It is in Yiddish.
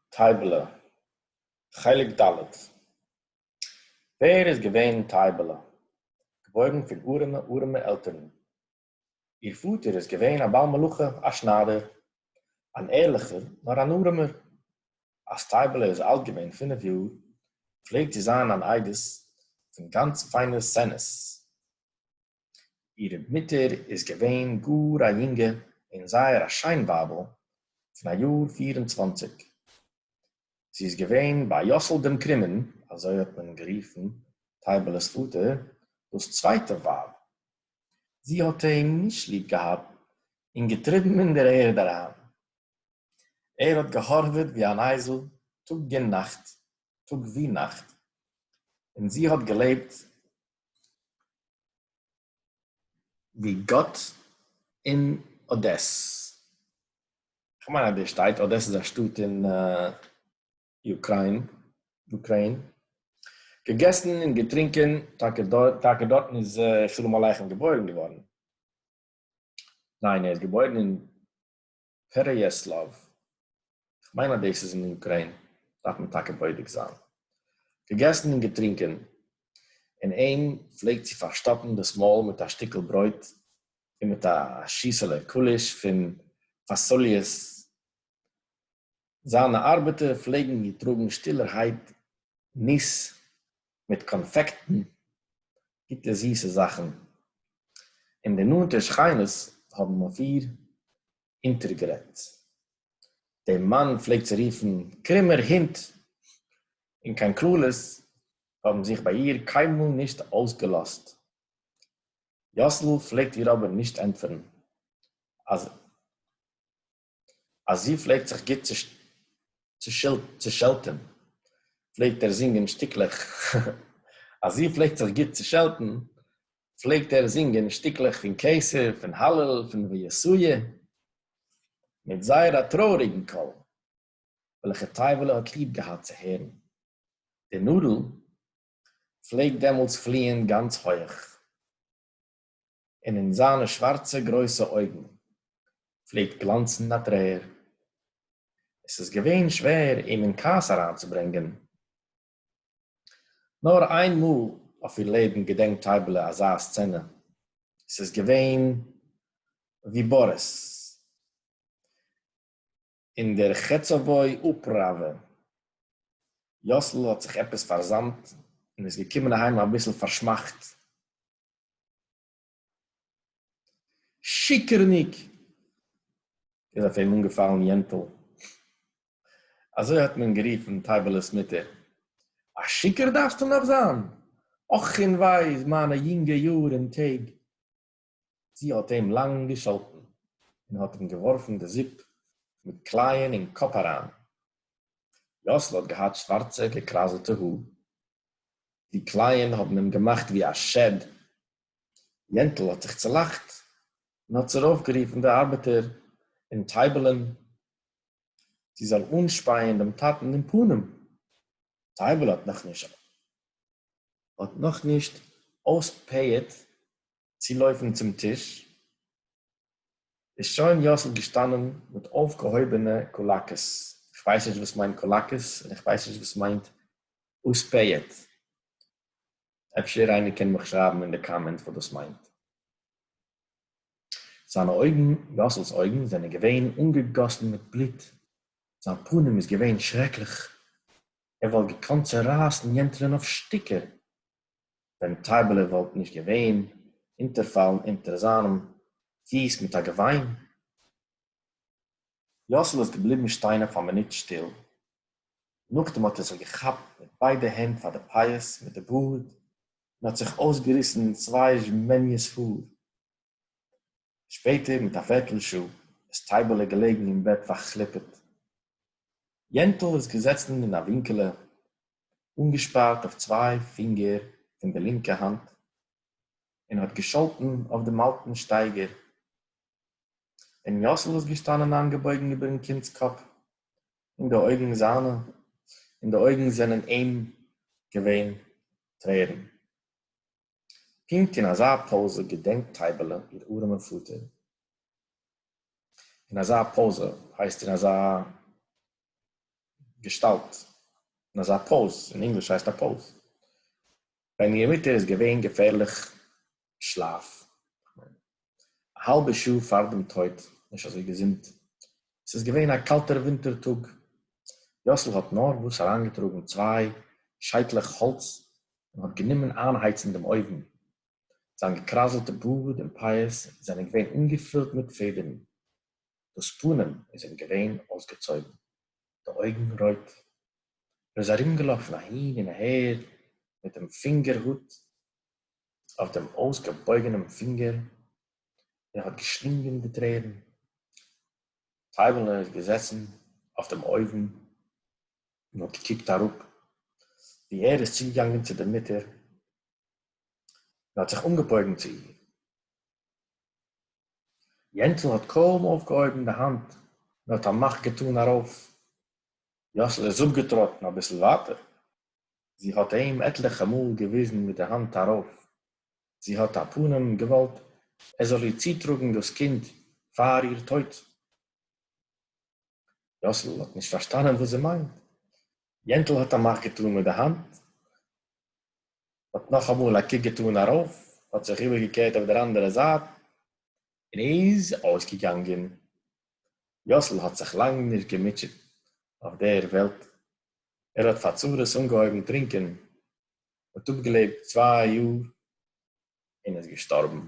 טייבעלע, חלק ד' ווער איז געווען טייבעלע? געבוירן פון ארעמע ארעמע עלטערן. איר פאטער איז געווען א בעל מלאכה, א שניידער, אן ערליכער נאר אן ארעמער. אז טייבעלע איז אלט געווען פינף יאר פלעגט זי זיין אן איידעס פון גאנץ פיינע סצענעס. איר מוטער איז געווען גאָר אַ יונגע און זייער אַ שיין ווייבל פון אַ יאָר פֿיר און צוואַנציק. זי איז געווען ביי יאָסל דעם קרומען, אַזוי האָט מען גערופן טייבעלעס פאָטער, דאָס צווייטע ווייב. זי האָט אים נישט ליב געהאַט און געטריבן אין דער ערד אַריין. ער האָט געהאָרוועט ווי אַן אייזל טאָג און נאַכט, טאָג ווי נאַכט, און זי האָט געלעבט ווי גאט אין אדעס. כ'מיין אז דאס שטייט, אדעס איז א שטאט אין אוקריין. געגעסן און געטרינקען טאקע דארט, טאקע דארטן איז שלום עליכם געבוירן געווארן. ניין, ער איז געבוירן אין. פערעיעסלאוו, כ'מיין אז דאס איז אין אוקריין, דארף מען טאקע בודק זיין. געגעסן און געטרינקען, און אים פלעגט צו פארשטאפן דאס מויל מיט א שטיקל ברויט און מיט א שיסעלע קוליש פון פאסאליעס. זיינע ארבעטער פלעגן געטראגן שטילערהייט ניס מיט קאנפעקטן גוטע זיסע זאכן, און די נאנטע שכינות האבן אויף איר אונטערגערעדט. דער מאן פלעגט זי רופן קרומער הונט, און קיין קללות האבן זיך ביי איר קיינמאל נישט אויסגעלאזט. יאסל פלעגט איר אבער נישט ענטפערן אז. אַז זי פֿלעגט זיך גוט צעשעלטן, פֿלעגט ער זינגען שטיקלעך, אַז זי פֿלעגט זיך גוט צעשעלטן, פֿלעגט ער זינגען שטיקלעך פֿון קיסר, פֿון הלל, פֿון ויסעיה, מיט זייער אַ טרויעריקן קול, וועלכע טייוולע האָט ליב געהאַט צו הערן. די נאָדל פֿלעגט דעמאָלט פֿליִען גאַנץ הויך. און אין זײַנע שװאַרצע גרױסע אױגן פֿלעגט גלאַנצן אַ טרער. עס איז געװען שװער אים אין כּעס אַרײַנצוברענגען. נאָר אײן מאָל אױף איר לעבן געדענקט טײַבעלע אַזאַ סצענע. עס איז געװען װי באָריס אין דער חצבֿוי אָפּראַװע. יאָסל האָט זיך עפּעס פֿאַרזאַמט און איז געקומען אַהײם אַ ביסל פֿאַרשמאַכט. שיקערניק! איז אויף אים אנגעפאלן יענטל, אזוי האט מען גערופן טייבעלע'ס מוטער, א שיקער דארפסטו נאך זיין? אך און וויי איז מיינע יונגע יאר און טעג! זי האט אים לאנג געשאלטן, און האט אים געווארפן די זופ מיט קלייען אין קאפ אריין. יאסל האט געהאט שווארצע געקראזעטע האר, די קלייען האָבן אים געמאַכט ווי אַ שעד. יענטל האָט זיך צעלאַכט און האָט צורויפֿגערופֿן די אַרבעטער און טײַבעלען, זי זאָל אָנשפּײַען דעם טאַטן אין פּנים. טײַבעלע האָט נאָך נישט אויספּײַעט צו לויפן צום טיש, איז שוין יאסל געשטאנען מיט אויפגעהויבענע קולאקעס, איך ווייס נישט וואס מיינט קולאקעס און איך ווייס נישט וואס מיינט אויספעיעט, אפשר איינער קען מיך שרייבן אין די קאמענט וואס דאס מיינט. זיינע אויגן, יאסל'ס אויגן, זענען געווען אנגעגאסן מיט בלוט, זיין פנים איז געווען שרעקליך, ער וואלט געקאנט צורייסן יענטערן אויף שטיקער, ווען טייבעלע וואלט נישט געווען, אונטערפאלן אונטער זיינעם פיס מיט א געוויין. יאסל איז געבליבן שטיין אויף א מינוט שטיל. נאכדעם האט ער זיך געכאפט מיט ביידע הענט פאר די פאות מיט די בארד און האט זיך אויסגעריסן צוויי זשמעניעס האר. שפעטער מיט א פערטל שעה איז טייבעלע געלעגן אין בעט פארכליפעט. יענטל איז געזעצן אין א ווינקעלע אָנגעשפּאַרט אויף צוויי פֿינגער פֿון דער לינקער האַנט און האָט געשאָלטן אויף דעם אַלטן שטייגער, דעם יאָסל איז געשטאַנען אײַנגעבויגן איבערן קינדס קאָפּ, און די אויגן זײַנע, אין די אויגן זענען אים געווען טרערן. פּונקט אין אַזאַ פּאָזע געדענקט טײַבעלע איר אָרעמען פֿאָטער. אין אַזאַ פּאָזע, הײסט אין אַזאַ געשטאַלט, אין אַזאַ פּאָז, אין ענגליש הײסט אַ פּאָז, װען איר מוטער איז געװען געפֿערלעך שלאַף. א האלבע שעה פאר דעם טויט, נישט אזוי געזונט, עס איז געווען א קאלטער ווינטער טאג, יאסל האט נארוואס אריינגעטראגן צוויי שייטלעך האלץ און האט גענומען איינהייצן דעם אויוון, זיין געקראזלטע בארד און פאות זענען געווען אנגעפילט מיט פעדערן, דאס פנים איז אים געווען אויסגעצויגן, די אויגן רויט, ער איז ארומגעלאפן אהין און אהער מיט דעם פינגער הוט, אויף דעם אויסגעבויגענעם פינגער און האט געשלינגען די טרערן. טייבעלע איז געזעסן אויף דעם אויוון און האט געקוקט אראפ ווי ער איז צוגעגאנגען צו דער מוטער און האט זיך אנגעבויגן צו איר. יענטל האט קוים אויפגעהויבן די האנט און האט א מאך געטאן ארויף. יאסל איז אפגעטראטן אביסל ווייטער זי האָט אים עטלעכע מאָל געוויזן מיט דער האַנט אַרויף. זי האָט, אַ פּנים, געוואָלט, ער זאָל איר צוטראָגן דאָס קינד פֿאַר איר טויט. יאָסל האָט נישט פֿאַרשטאַנען וואָס זי מיינט. יענטל האָט אַ מאַך געטאָן מיט דער האַנט, האָט נאָך אַ מאָל אַ קוק געטאָן אַרויף, האָט זיך איבערגעקערט אויף דער אַנדערער זייט און איז אויסגעגאַנגען. יאָסל האָט זיך לאַנג נישט געמוטשעט אויף דער וועלט. ער האט פאר צרות אנגעהויבן טרינקען, האט אפגעלעבט צוויי יאר און איז געשטארבן.